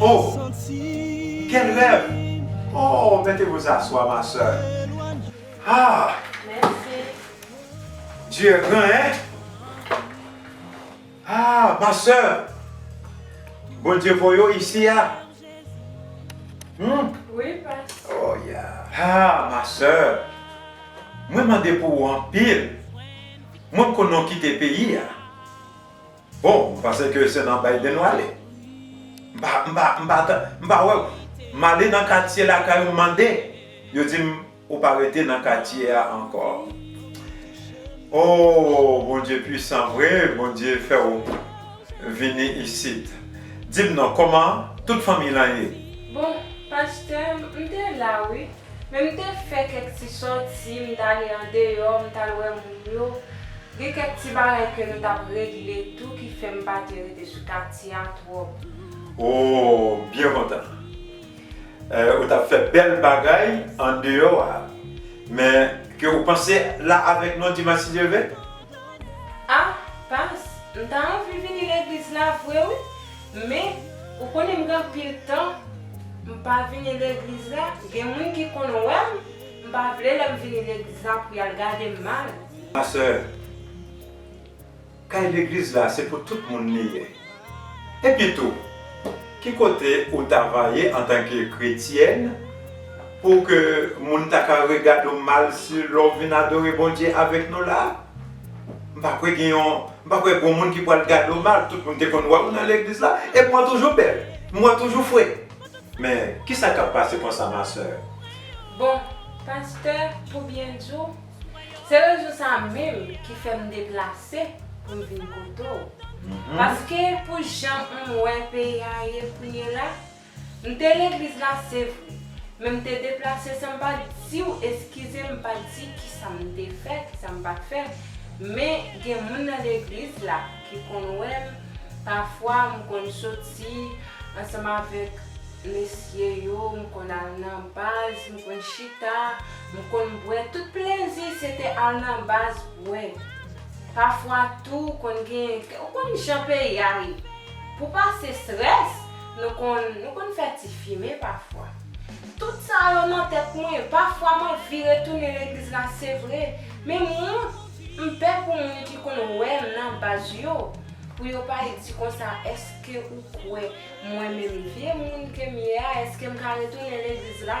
Oh! Quel rêve! Oh! Mettez vous asseoir ma soeur. Ah! Dieu est grand hein! Ah! Ma soeur! Bondye voye w ici a? Hum! Oh yeah! Ah! Ma soeur! Mwen mande pou ou anpil. Mwen pko non kite peyi a. Bon ou panse ke se nan Biden w ale? M pa m pa m pa tande m pa wè w. M ale nan katye lakay ou m mande, yo di m ou pa rete nan katye a ankò. Oh Bondye pwisan vre, Bondye fè w. Vini isit. Dim non koman tout fanmiy lan ye. Bon pastè m te la wi men m te fè kèk ti sòti m t ale andeyò m t al wè moun yo gen kèk ti bagay ke nou tap regle tou ki fè m pa te rete sou katye a twòp. Ooh byen kontan ou tap fè bèl bagay andeyò a men ke ou panse la avèk nou dimanch si Dye vle? Ah Pas, m ta anvi vini legliz la vre wi, men ou konnen m gen anpil tan m pa vini legliz la, gen moun ki konn wè m, m pa vle lè m vini legliz la pou y al gade m mal. Ma sè, kay legliz la se pou tout moun li ye. Epitou, ki kote ou ta va ye antanke kretyèn pou ke moun ta ka regade w mal si lè w vin adore Bondye avèk nou la a? M pa kwè gen yon, m pa kwè gon moun ki pral gade w mal. Tout moun te konn wè w nan legliz la, epi w ap toujou bèl. M wè w toujou fre. Men, kisa k ap pase konsa, ma sè? Bon, pastè, pou byen di w, Se rezon sa menm ki fè m deplase pou m vin kote w. Paske pou jan m wè peyi a ye kounyela, m te legliz la se vre, men m te deplase san m pa t di w eskize m pa t di kisa m te fè, kisa m pa t fè, men gen moun nan legliz la ki konn wè m, pafwa m konn soti ansanm avèk mesye yo, m konn al nan baz, m konn chita. M konn bwè tout plezi se te al nan baz bwè. Pafwa tou konn gen ou konn jan peyi a ye. Pou pase strès nou konn nou konn fè ti fimen pafwa. Tout sa yo nan tèt mwen pafwa m anvi retounen legliz la se vre men m wont m pè pou moun ki konn wè m nan baz yo pou yo pa di konsa èske ou kwè mwen menm vye moun ke m ye a èske m ka retounen legliz la.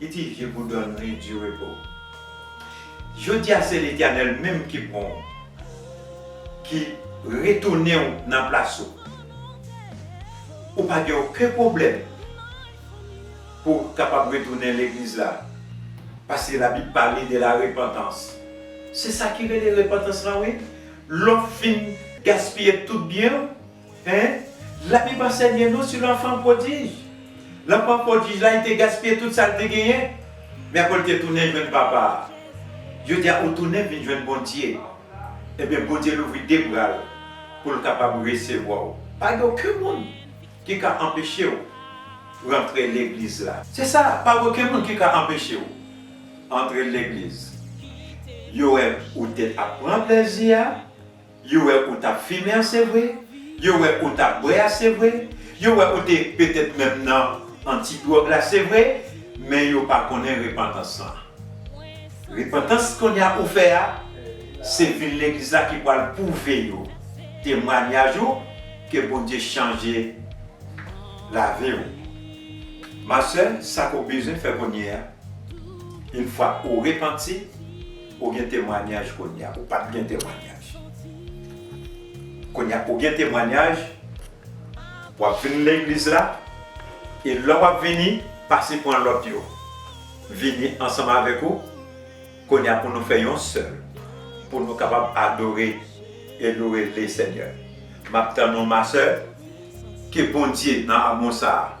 Piti vye boudon li du repo. Jodia se letènèl menm ki pranw ki retounen w nan plas ou. Ou pa gen oken pwoblèm pou w kapab retounen legliz la paske la bib pale de la repantans. Se sa ki rele repantans lan wi. Lè w fin gaspiye tout byen w. Hein? La Bible ansègne nou sou l'enfant prodige. L'enfant prodige la li te gaspiye tout sa li te genyen. Men apre li te tounen jwenn papa a. Jodi a ou tounen vin jwenn Bondye. Ebyen Bondye louvri 2 bra l pou l kapab resevwa w. Pa gen oken moun ki ka anpeche w rantre legliz la. Se sa, pa gen oken moun ki ka anpeche w antre legliz. Yo wè ou te ap pran plezi a. Yo wè ou t ap fimen an se vre, yo wè ou t ap bwè a se vre, yo wè ou te petèt menm nan anti dwòg la se vre, men yo pa konnen repantans lan. Repantans kounye a ou fè a, se vin legliz la ki pral pwouve yo, temwanyaj ou, ke Bondye chanje lavi ou. Ma sè, sa ke w bezwen fè kounye a, infwa ou repanti, Ou gen temwanyaj kounya ou pat gen temwanyaj kounya ou gen temwanyaj wap vin legliz la e lè wap vini pase pran lòt yo vini ansanm avèk ou kounya pou nou fè yon sèl pou nou kapab adore e loure lesenyè map tann ou ma sè ke Bondye nan amou sa.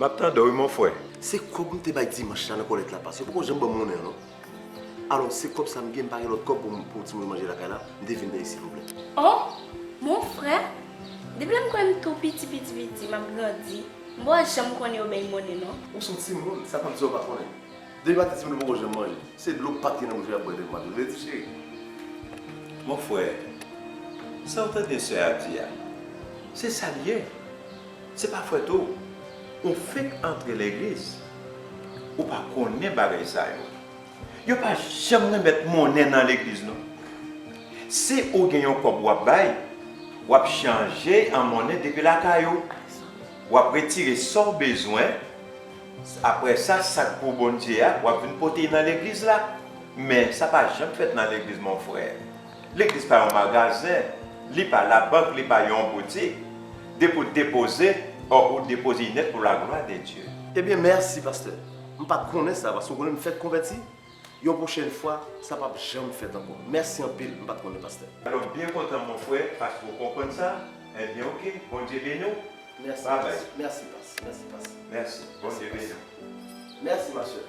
Map tandew wi mon frè. Se kob m te bay dimanche la nan kòlèt la pase, yo poko janm banm monnen an non. Alò se kob sa m gen, m pa gen lòt kob pou timoun yo manje lakay la, m te vin peye silvouplè. Oh! Mon frè, depi lè m kwè m tou piti piti piti, m ap grandi, m pa janm konnen yo bay monnen non. Ou son timoun, sa pap di w pa konnen. De mat li di m li poko janm manje. Se dlo pat gen nan bouch li ap bwè de mat ou vle di cheri? Mon frè, sa ou tande sè a di a, se sa li ye. Se pa fwèt ou. Ou fenk antre legliz. Ou pa konnen bagay sa yo. Yo pa janm renmèt monnen nan legliz non. Si ou gen yon kòb wap bay, wap chanje an monnen depi lakay ou. Wap retire sa ou bezwen. Aprè sa sak pou Bondye a wap vin pote nan legliz la men sa pa janm fèt nan legliz mon frè legliz pa yon magazen li pa la bank li pa yon boutik depi ou depoze ò ou depoze nèt pou la glwa de Dye. Ebyen merci pasteur m pat konnen sa paske ou konnen m fèk konvèti. Yon pwochèn fwa, sa pap janm fèt ankò. Mèsi anpil, m pat konnen pastè. Alò m byen kontan mon frè paske w konprann sa, ebyen ok Bondye beni w Merci bye bye. past merci past merci past. Merci Bondye beni w. Merci ma soeur.